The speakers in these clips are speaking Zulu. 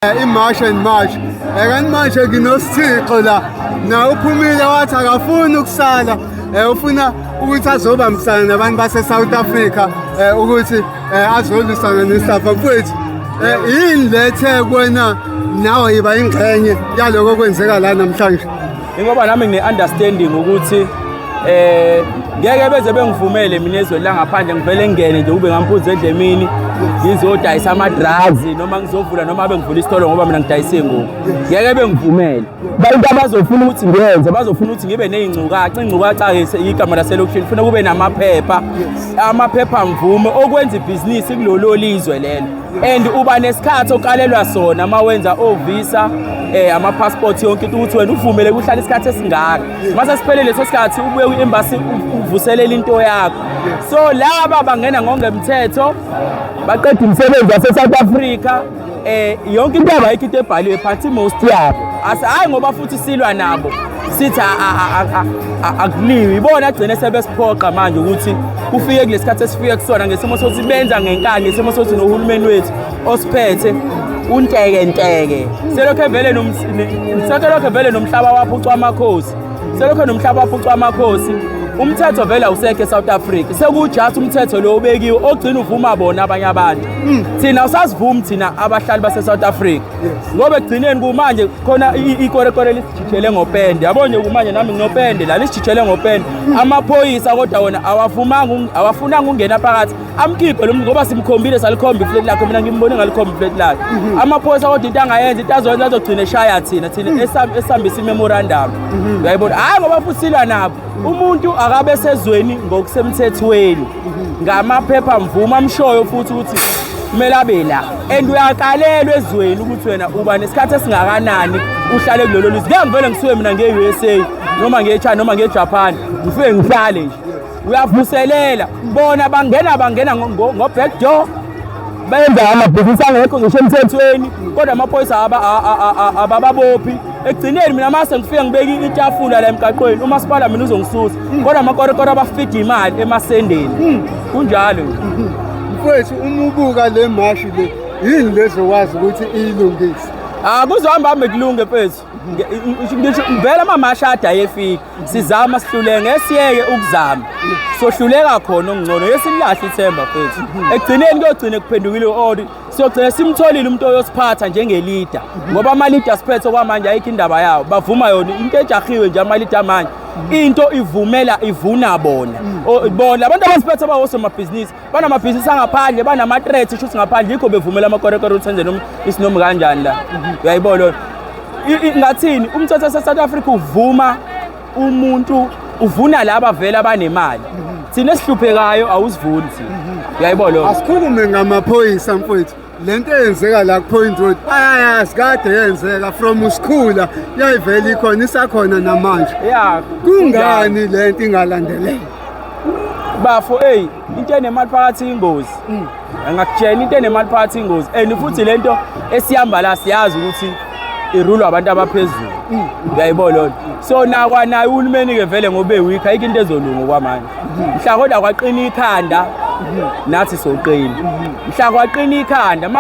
eh, imash and march eh, kanti manje nginosithixo la na uphumile wathi akafuni ukusala eh, ufuna ukuthi azobambisana nabantu base-south africa um ukuthi um azolwisana nesafa mfowethu um yini lethe kwena nawe yiba ingxenye yaloko kwenzeka la namhlanje Ingoba nami ngine-understanding ukuthi eh ngeke beze bengivumele mina ezweni langaphandle ngivele ngene nje kube ngampunzi edlemini ngizodayisa ama-drugs noma ngizovula noma bengivula isitolo ngoba mina ngidayisa iy'ngubo ngeke bengivumele bantu abazofuna ukuthi ngenze bazofuna ukuthi ngibe ney'ngcukaca ingcukaca-ke igama laselokishini funa kube namaphepha amaphepha mvume okwenza ibhizinisi kulolo lizwe lelo and uba nesikhathi okalelwa sona uma wenza ovisa um eh, amapassport yonke into ukuthi wena uvumele kuhlala isikhathi esingaka uma sesiphelele leso sikhathi ubuye kwi-embasi uvuselele into yakho so laba bangena ngongemthetho baqeda umsebenzi wase-south africa um yonke into yabo ayikho into ebhaliwe phansi most yabo hhayi ngoba futhi silwa nabo sithi akuliwi ibona agcine sebesiphoqa manje ukuthi kufike kulesi khathi esifike kusona ngesimo sokuthi benza ngenkani ngesimo sokuthi nohulumeni wethu osiphethe untekenteke selokhu evele selokhu evele nomhlaba waphucwa amakhosi selokhu nomhlaba waphucwa amakhosi umthetho vele awusekho eSouth Africa sekujust umthetho lo obekiwe ogcina uvuma bona abanye abantu hmm. thina usasivumi thina abahlali baseSouth Africa ngoba ekugcineni kumanje khona ikorekore lisijijele ngopende yabo nje kumanje nami nginopende la lisijijele ngopende amaphoyisa kodwa wona awavumanga awafunanga ungena phakathi amkhiphe lo ngoba simkhombile salikhomba ifleti lakhe mina ngimbone ngalikhomba ifleti lakhe mhm. amaphoyisa kodwa into angayenza into azoyenza azogcina eshaya thina thina mhm. esihambisa imemorandum mhm. uyayibona hhayi ngoba futhi silwa nabo umuntu akabe sezweni ngokusemthethweni ngamaphepha mvuma amshoyo futhi ukuthi kumele abe la and uyakalelwa ezweni ukuthi wena uba nesikhathi esingakanani uhlale kulelo lizwe ngeke ngivele ngisuke mina nge-u s a noma nge-china noma nge-japan ngifike ngihlale nje uyavuselela bona bangena bangena ngo-back door benza amabhizinisi angekho ngisho emthethweni kodwa amaphoyisa abababophi ekugcineni mina mase ngifike ngibeke itafula la emgaqweni umasipala mina uzongisusa mm. kodwa amakorokoro abafida imali emasendeni mm. kunjalo mfowethu uma ubuka le mashi le yini lezokwazi ukuthi iyilungise akuzohamba hambe kulunge mfethu vele amamashada ayefika sizama sihlule ngesiyeke ukuzama sohluleka khona okungcono yesililahle ithemba fethu ekugcineni kuyogcine kuphendukile u-ori siyogcina simtholile umuntu oyosiphatha njengelida ngoba amalidi asiphethe okwamanje ayikho indaba yawo bavuma yona into ejahiwe nje amalidi amanje into ivumela ivuna bona bona abantu abasiphethe abawosomabhizinisi banamabhizinisi angaphandle banama-threat shuthi ngaphandle yikho bevumela amakorekore ukuthi enze isinomi kanjani la uyayibo lona ngathini umthetho sesouth africa uvuma umuntu uvuna laba vele abanemali thina esihluphekayo awusivuni thina uyayibo lona asikhulume ngamaphoyisa mfowethu le nto eyenzeka la kupoint road bayayazi kade yenzeka from usikhula yayivele ikhona isakhona namanje ya kungani le nto ingalandeleki bafo hey into enemali phakathi ingozi angakutshela into enemali phakathi ingozi and futhi lento esihamba la siyazi ukuthi irulwa abantu abaphezulu mm. uyayibona lona so nakwanaye uhulumeni-ke vele ngoba ewikho ayikho into ezolunga okwamanje mm-hmm. mhla kodwa kwaqina ikhanda mm-hmm. nathi soqina mm-hmm. mhla kwaqina ikhanda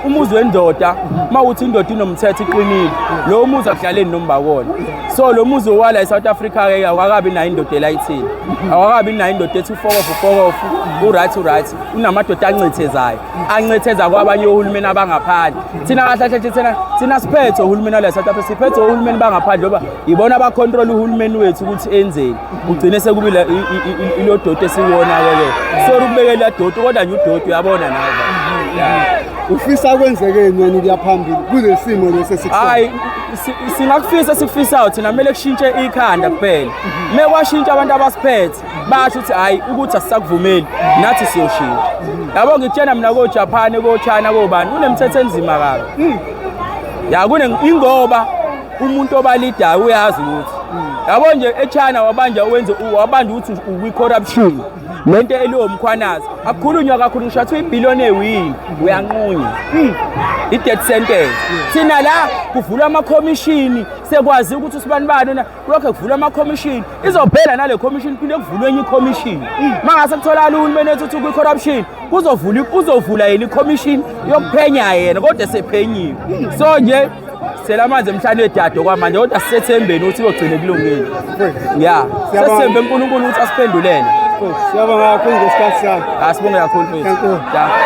umuzi wendoda uma uthi indoda inomthetho iqinile lowo muzi akudlaleni nombakona so lo muzi owala e-south africa-ke awakabi nayo indoda elayithile awakabi nayo indoda ethi ufokofu ufokofu uright uright unamadoda ancethezayo ancetheza kwabanye ohulumeni abangaphandle thina kahle kahle thina thina siphethe uhulumeni wale South Africa siphethe uhulumeni bangaphandle ngoba yibona abacontrol uhulumeni wethu ukuthi enzeni ugcine sekubile ilo doti esiwona ke sorry ukubekela doti kodwa nje udoti uyabona nawe ufisa kwenzekeni yena ukuya phambili kulesimo lesi sikho hayi singakufisa sikufisayo thina kumele kushintshe ikhanda kuphela mekwashintsha abantu abasiphethe basho ukuthi hhayi ukuthi asisakuvumeli nathi siyoshiya yabo ngikutshena mina kojapane kochina kobani kunemithetho enzima kabi hmm. ya ingoba umuntu obalidayo uyazi ukuthi yabo nje echina wabanja wenze wabanja ukuthi ukwi-corruption le nto eliwomkhwanazi akukhulunywa kakhulu ngisho athiwa ibhiliyoni ewini uyanqunywa hmm. i-death sentence thina la kuvulwa amakhomishini sekwazi ukuthi usibani bani kulokho kuvulwa amakhomishini izophela nale khomishini kuphinde kuvulwe enye ikhomishini uma ngase kutholakala uhulumeni ethuthu kwi-corruption kuzovula kuzovula yena ikhomishini yokuphenya yena kodwa esephenyiwe so nje sela amanzi emhlane wedade okwamanje kodwa sisethembeni ukuthi kogcine kulungile ya sesithembe unkulunkulu ukuthi asiphendulele siyabonga kakhulu ngesikhathi sakho asibonge kakhulu mfethu